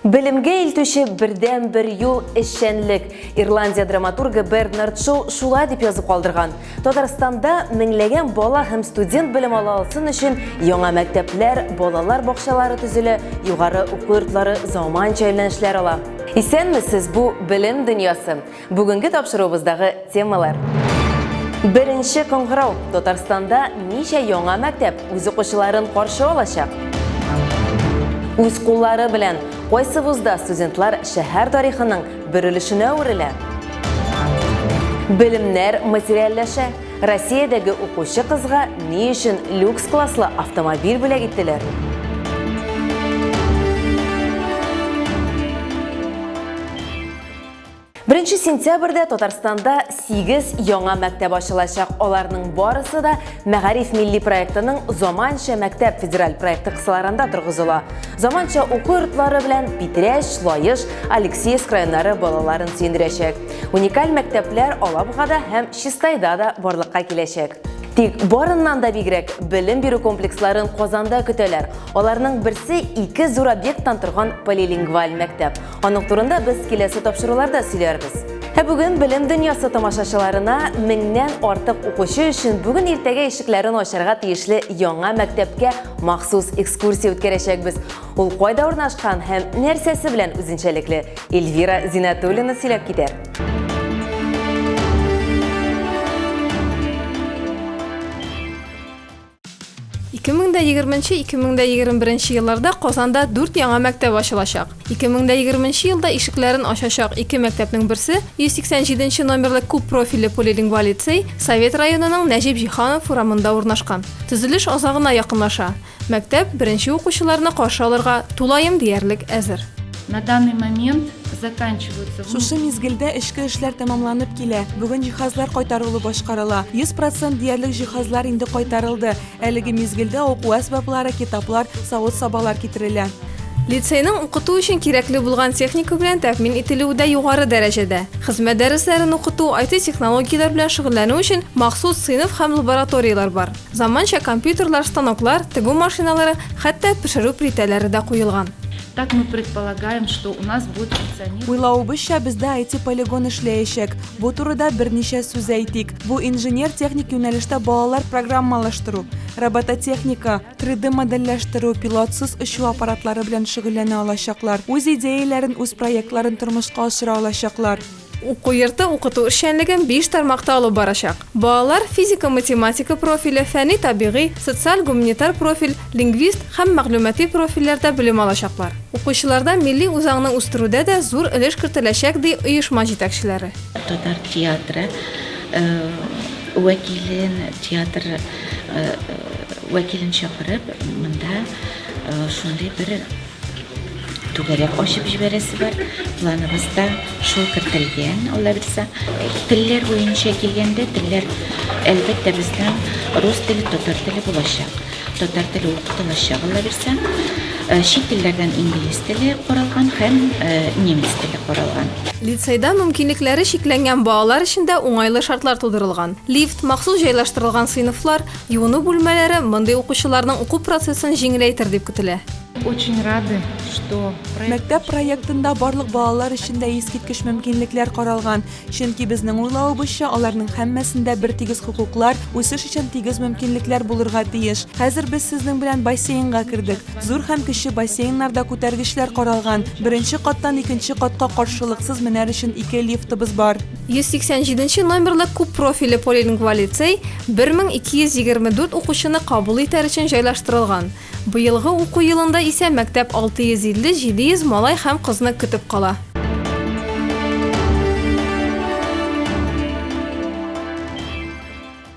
Белемгә илтүче бердән-бер юл эшчәнлек. Ирландия драматургы Бернард Шоу шулай дип язып калдырган. Татарстанда меңләгән бала һәм студент белем ала алсын өчен яңа мәктәпләр, балалар бакчалары төзелә, югары уку йортлары заманча юнәлешләр ала. Исәнмесез, бу белем дөньясы. Бүгенге тапшыруыбыздагы темалар. Беренче кыңгырау Татарстанда ничә яңа мәктәп үз укучыларын каршы алачак? Үз куллары белән кайсы вузда студентлар шәһәр тарихының бер өлешенә әверелә? Белемнәр материальләшә. Россиядәге укучы кызга ни өчен люкс класслы автомобиль бүләк иттеләр? Беренче сентябрьдә Татарстанда 8 яңа мәктәп ачылачак. Аларның барысы да Мәгариф милли проектының Заманча мәктәп федераль проекты кысаларында торгызыла. Заманча уку йортлары белән Питрәч, Лаеш, Алексеевск районнары балаларын сөендерәчәк. Уникаль мәктәпләр Алабугада һәм Чистайда да барлыкка киләчәк. Тик барыннан да бигрәк белем бирү комплексларын Казанда көтәләр. Аларның берсе ике зур объекттан торган полилингваль мәктәп. Аның турында без киләсе тапшыруларда сөйләрбез. Ә бүген белем дөньясы тамашачыларына меңнән артык укучы өчен бүген иртәгә ишекләрен ачарга тиешле яңа мәктәпкә махсус экскурсия үткәрәчәкбез. Ул кайда урнашкан һәм нәрсәсе белән үзенчәлекле? Эльвира Зинатуллина сөйләп китәр. 2020-2021 елларда Казанда 4 яңа мәктәп ачылачак. 2020 елда ишекләрен ачачак ике мәктәпнең берсе 187 нче номерлы күп профильле полилингва лицей Совет районының Нәҗип Җиһанов урамында урнашкан. Төзелеш азагына якынлаша. Мәктәп беренче укучыларны каршы алырга тулаем диярлек әзер. На данный момент заканчиваются... Шушы мизгелдә эчке эшләр тәмамланып килә. Бүген җиһазлар кайтарылу башкарыла. 100% диярлек җиһазлар инде кайтарылды. Әлеге мизгелдә уку әсбаплары, китаплар, савыт-сабалар китерелә. Лицейның укыту өчен кирәкле булган техника белән тәэмин ителүе дә югары дәрәҗәдә. Хезмәт дәресләрен укыту, IT-технологияләр белән шөгыльләнү өчен махсус сыйныф һәм лабораторияләр бар. Заманча компьютерлар, станоклар, тегү машиналары, хәтта пешерү плитәләре дә куелган. Так мы предполагаем, что у нас будет функционировать. Уйлавыбызча, бездә IT-полигон эшләячәк. Бу турыда берничә сүз әйтик. Бу инженер-техник юнәлештә балалар программалаштыру, робототехника, 3D-модельләштерү, пилотсыз очу аппаратлары белән шөгыльләнә алачаклар, үз идеяләрен, үз проектларын тормышка ашыра алачаклар. Уку йорты укыту эшчәнлеген биш тармакта алып барачак. Балалар физика-математика профиле, фәнни-табигый, социаль-гуманитар профиль, лингвист һәм мәгълүмати профильләрдә белем алачаклар. Укучыларда милли үзаңны үстерүдә дә зур өлеш кертеләчәк, ди оешма җитәкчеләре. Татар театры вәкилен, театр вәкилен чакырып, монда шундый бер түгәрәк ачып җибәрәсе бар. Планыбызда шул кертелгән, Алла бирсә. Телләр буенча килгәндә, телләр әлбәттә безнең рус теле, татар теле булачак. Татар теле укытылачак, Алла бирсә. Э, чит телләрдән инглиз теле каралган һәм э, немец теле каралган. Лицейда мөмкинлекләре чикләнгән балалар өчен дә уңайлы шартлар тудырылган. Лифт, махсус җайлаштырылган сыйныфлар, Юыну бүлмәләре мондый укучыларның уку процессын җиңеләйтер дип көтелә. Очень рады, что Мәктәп проектында барлык балалар өчен дә искиткеч мөмкинлекләр каралган, чөнки безнең уйлавыбызча, аларның һәммәсендә бертигез хокуклар, үсеш өчен тигез мөмкинлекләр булырга тиеш. Хәзер без сезнең белән бассейнга кердек. Зур һәм кече бассейннарда күтәргечләр каралган. Беренче каттан икенче катка каршылыксыз менәр өчен ике лифтыбыз бар. 187 нче номерлы күп профильле полилингваль лицей 1224 укучыны кабул итәр өчен җайлаштырылган. Быелгы уку елында исә мәктәп 650-700 малай һәм кызны көтеп кала.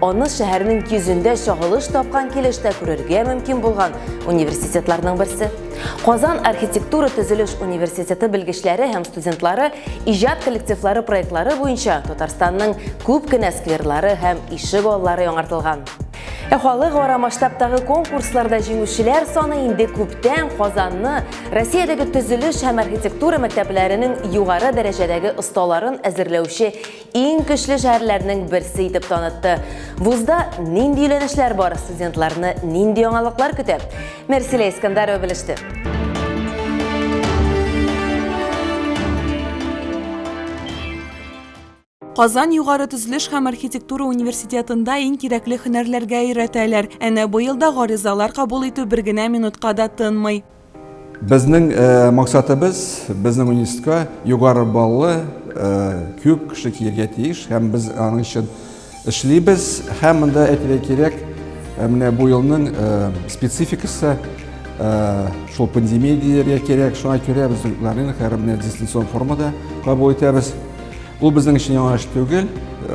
Аны шәһәрнең йөзендә чагылыш тапкан килештә күрергә мөмкин булган университетларның берсе. Казан архитектура төзелеш университеты белгечләре һәм студентлары иҗат коллективлары проектлары буенча Татарстанның күп кенә скверлары һәм ишек аллары яңартылган. Ә халыкара масштабтагы конкурсларда җиңүчеләр саны инде күптән Казанны Россиядәге төзелеш һәм архитектура мәктәпләренең югары дәрәҗәдәге осталарын әзерләүче иң көчле шәһәрләрнең берсе итеп танытты. Вузда нинди юнәлешләр бар, студентларны нинди яңалыклар көтә? Мерсилә Искандарова белеште. Казан югары төзелеш һәм архитектура университетында иң кирәкле һөнәрләргә өйрәтәләр. Әнә быел да гаризалар кабул итү бер генә минутка да тынмый. Безнең максатыбыз, безнең университетка югары баллы күп кеше килергә тиеш һәм без аның өчен эшлибез. Һәм монда әйтергә кирәк, менә бу елның спецификасы шул пандемия дияргә кирәк. Шуңа күрә без укларны хәзер менә дистанцион формада кабул итәбез. Ул безнең өчен яңа эш түгел,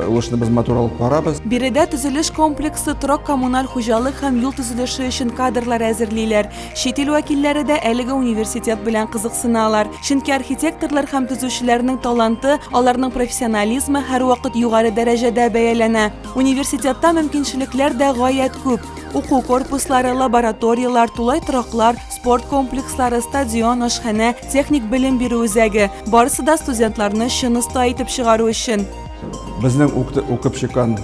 ул эшне без матур алып барабыз. Биредә төзелеш комплексы, торак-коммуналь хуҗалык һәм юл төзелеше өчен кадрлар әзерлиләр. Чит ил вәкилләре дә әлеге университет белән кызыксыналар, чөнки архитекторлар һәм төзүчеләрнең таланты, аларның профессионализмы һәрвакыт югары дәрәҗәдә бәяләнә. Университетта мөмкинчелекләр дә гаять күп. Уку корпуслары, лабораторияләр, тулай тораклар, спорт комплекслары, стадион, ашханә, техник белем бирү үзәге, барысы да студентларны чын оста итеп чыгару өчен. Безнең укып чыккан,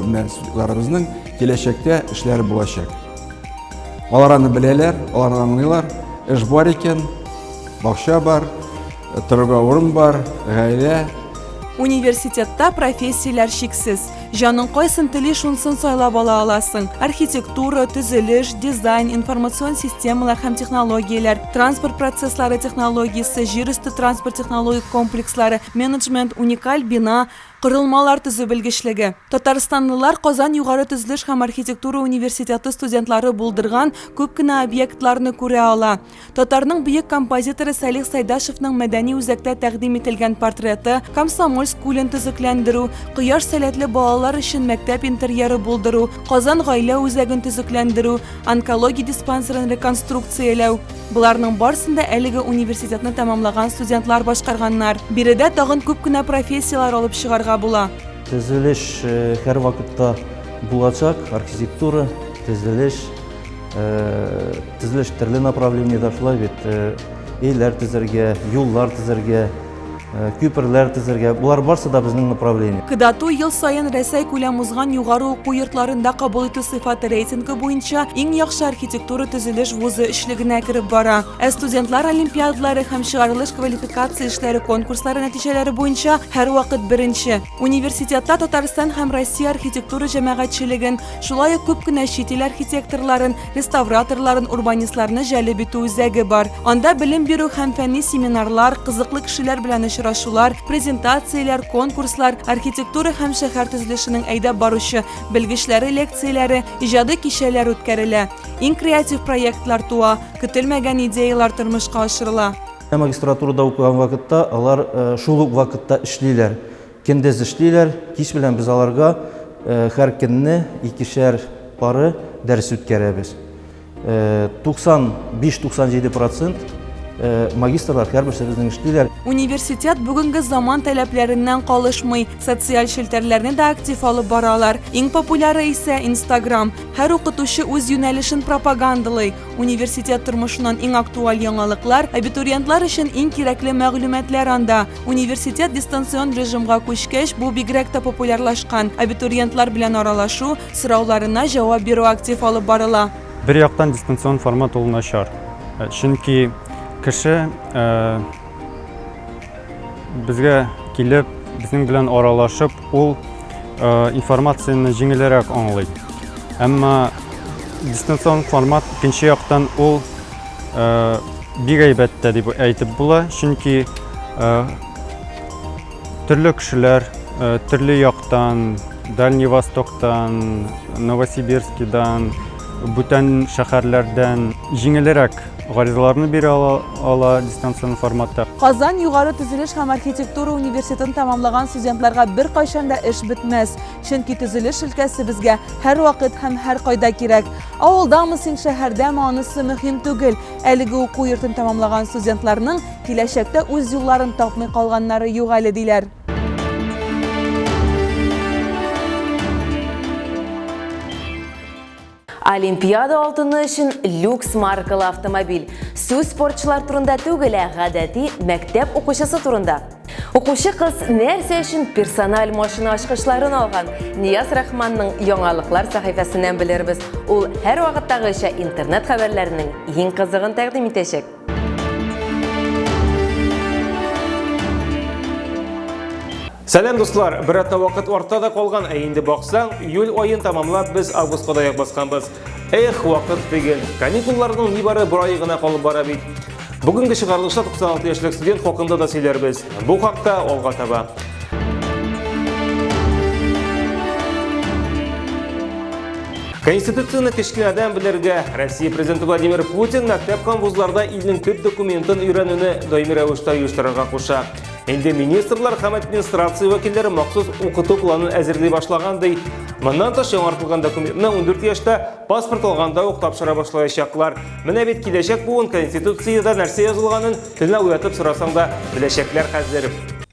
менә студентларыбызның киләчәктә эшләре булачак. Алар аны беләләр, алар аңлыйлар. Эш бар икән, бакча бар, торырга урын бар, гаилә. Университетта профессияләр шиксез. Җаның кайсын тели, шунсын сайлап ала аласың. Архитектура, төзелеш, дизайн, информацион системалар һәм технологияләр, транспорт процесслары технологиясе, җир өсте транспорт технологик комплекслары, менеджмент, уникаль бина, Корылмалар төзү белгечлеге. Татарстанлылар Казан югары төзелеш һәм архитектура университеты студентлары булдырган күп кенә объектларны күрә ала. Татарның бөек композиторы Сәлих Сәйдашевның мәдәни үзәктә тәкъдим ителгән портреты, Комсомольск күлен төзекләндерү, Кояш сәләтле балалар өчен мәктәп интерьеры булдыру, Казан гаилә үзәген төзекләндерү, онкология диспансерын реконструкцияләү. Боларның барсын да әлеге университетны тәмамлаган студентлар башкарганнар. Биредә тагын күп кенә профессияләр алып чыгарга була. Төзелеш э, һәрвакытта булачак, архитектура, төзелеш, э, төзелеш төрле направлениедә шулай бит. Э, өйләр төзергә, юллар төзергә, Э, күперләр төзергә болар барсы да безнең направление кдату ел сайын рәсәй күләм узган югары уку йортларында кабул итү сыйфаты рейтингы буенча иң яхшы архитектура төзелеш вузы өчлегенә кереп бара ә студентлар олимпиадалары һәм чыгарылыш квалификация эшләре конкурслары нәтиҗәләре буенча һәрвакыт беренче университетта татарстан һәм россия архитектура җәмәгатьчелеген шулай ук күп кенә чит ил архитекторларын реставраторларын, урбанистларны җәлеп итү үзәге бар. Анда белем бирү һәм фәнни семинарлар, кызыклы кешеләр белән очрашулар, презентацияләр, конкурслар, архитектура һәм шәһәр төзелешенең әйдәп баручы белгечләре лекцияләре, иҗади кичәләр үткәрелә. Иң креатив проектлар туа, көтелмәгән идеяләр тормышка ашырыла. Магистратурада укыган вакытта алар э, шул ук вакытта эшлиләр. Көндез эшлиләр, кич белән без аларга һәр көнне икешәр пары дәрес үткәрәбез. 95-97 процент Э, магистрлар һәрберсе безнең эшлиләр. Университет бүгенге заман таләпләреннән калышмый, социаль челтәрләрне дә актив алып баралар. Иң популяры исә Instagram. Һәр укытучы үз юнәлешен пропагандалый. Университет тормышыннан иң актуаль яңалыклар, абитуриентлар өчен иң кирәкле мәгълүматлар анда. Университет дистанцион режимга күчкәч, бу бигрәк тә популярлашкан. Абитуриентлар белән аралашу, сорауларына җавап бирү актив алып барыла. Бер яктан дистанцион формат ул начар, чөнки кеше, Безгә килеп, безнең белән аралашып, ул э, информацияне җиңелрәк аңлый. Әмма дистанцион формат икенче яктан ул э, бик әйбәт тә дип әйтеп була, чөнки э, Төрле кешеләр, төрле яктан, Дальний Востоктан, Новосибирскидан, бүтән шәһәрләрдән җиңелрәк гаризаларны бирә ала, ала дистанцион форматта. Казан югары төзелеш һәм архитектура университетын тәмамлаган студентларга беркайчан да эш бетмәс, чөнки төзелеш өлкәсе безгә һәрвакыт һәм һәркайда кирәк. Авылдамы син, шәһәрдәме, анысы мөһим түгел, әлеге уку йортын тәмамлаган студентларның Киләчәктә үз юлларын тапмый калганнары юк әле, диләр. Олимпиада алтыны өчен люкс маркалы автомобиль. Сүз спортчылар турында түгел, ә гадәти мәктәп укучысы турында. Укучы кыз нәрсә өчен персональ машина ачкычларын алган? Нияз Рахманның яңалыклар сәхифәсеннән белербез. Ул һәр вакыттагыча интернет хәбәрләренең иң кызыгын тәкъдим итәчәк. Сәлем дуслар, бер атна вакыт арта да калган, ә инде баксаң, июль айын тамамлап без августка да басканбыз. Эх, вакыт тигел. Каникулларның нибары бер ай гына калып бара бит. Бүгенге чыгарылышта 96 яшьлек студент хакында да сөйләрбез. Бу хакта алга таба. Конституцияне кечкенәдән белергә Россия президенты Владимир Путин мәктәп һәм вузларда илнең төп документын өйрәнүне даими рәвештә оештырырга куша. Инде министрлар һәм администрация вәкилләре махсус укыту планын әзерли башлаган ди. Моннан тыш яңартылган документны 14 яшьтә паспорт алганда ук тапшыра башлаячаклар. Менә бит киләчәк буын Конституциядә нәрсә язылганын телне уятып сорасаң да беләчәкләр хәзер.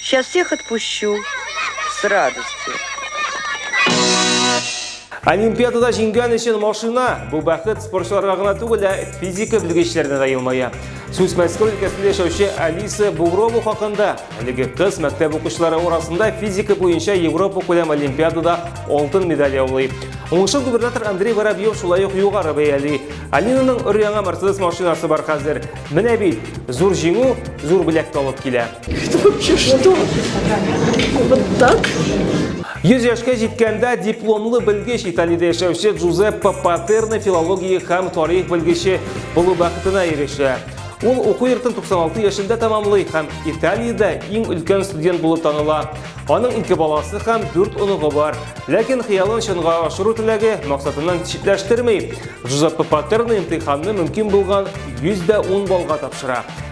Сейчас всех отпущу с радостью. Олимпиадада җиңгән өчен машина бу бәхет спортчыларга гына түгел, ә физика белгечләренә дә елмая. Сүз Мәскәү өлкәсендә яшәүче Алиса Бугрова хакында. Әлеге кыз мәктәп укучылары арасында физика буенча Европа күләм олимпиадада алтын медаль яулый. Уңышын губернатор Андрей Воробьев шулай ук югары бәяли. Алинаның өр-яңа Mercedes машинасы бар хәзер. Менә бит, зур җиңү, зур бүләк алып килә. Это вообще что? Вот так? Йөз яшькә җиткәндә дипломлы белгеч Италиядә яшәүче Джузеппе Патерна филология һәм тарих белгече булу бәхетенә ирешә. Ул уку йортын 96 яшендә тәмамлый һәм Италиядә иң өлкән студент булып таныла. Аның ике баласы һәм дүрт оныгы бар. Ләкин хыялын чынга ашыру теләге максатыннан читләштерми. Жузеппе Патерн имтиханны мөмкин булган 110 баллга тапшыра.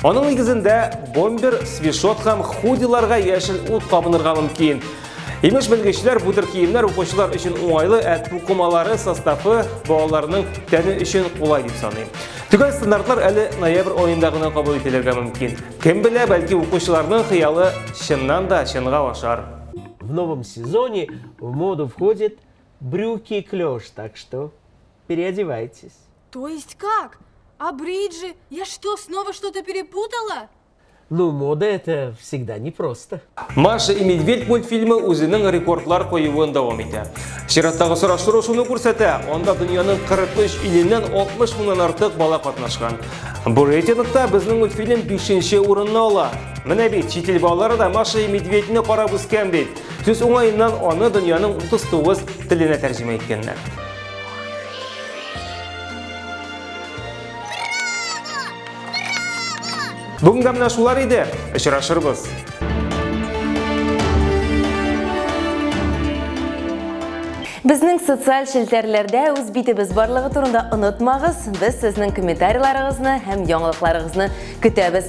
Аның нигезендә бомбер, свишот һәм худиларга яшел ут табынырга мөмкин. Имеш белгечләр бу төр киемнәр укучылар өчен уңайлы, ә тукымалары составы балаларның тәне өчен кулай дип саный. Төгәл стандартлар әле ноябрь аенда гына кабул ителергә мөмкин. Кем белә, бәлки укучыларның хыялы чыннан да чынга ашар. В новом сезоне в моду входит брюки клеш, так что переодевайтесь. То есть как? А бриджи? Я что, снова что-то перепутала? Ну, мода это всегда непросто. Маша и Медведь мультфильмы үзенең рекордлар куюын дәвам итә. Чираттагы сораштыру шуны күрсәтә, анда дөньяның 43 иленнән 60 мыңнан артык бала катнашкан. Бу рейтингта безнең мультфильм 5 урынны ала. Менә бит, чит ил балалары да Маша и Медведьне карап үскән бит. Сүз уңаеннан аны дөньяның 39 теленә тәрҗемә иткәннәр. Бүгінгі мына шулар иде. Очрашырбыз. Безнең социаль челтәрләрдә үз битебез барлыгы турында онытмагыз. Без сезнең комментарийларыгызны һәм яңалыкларыгызны көтәбез.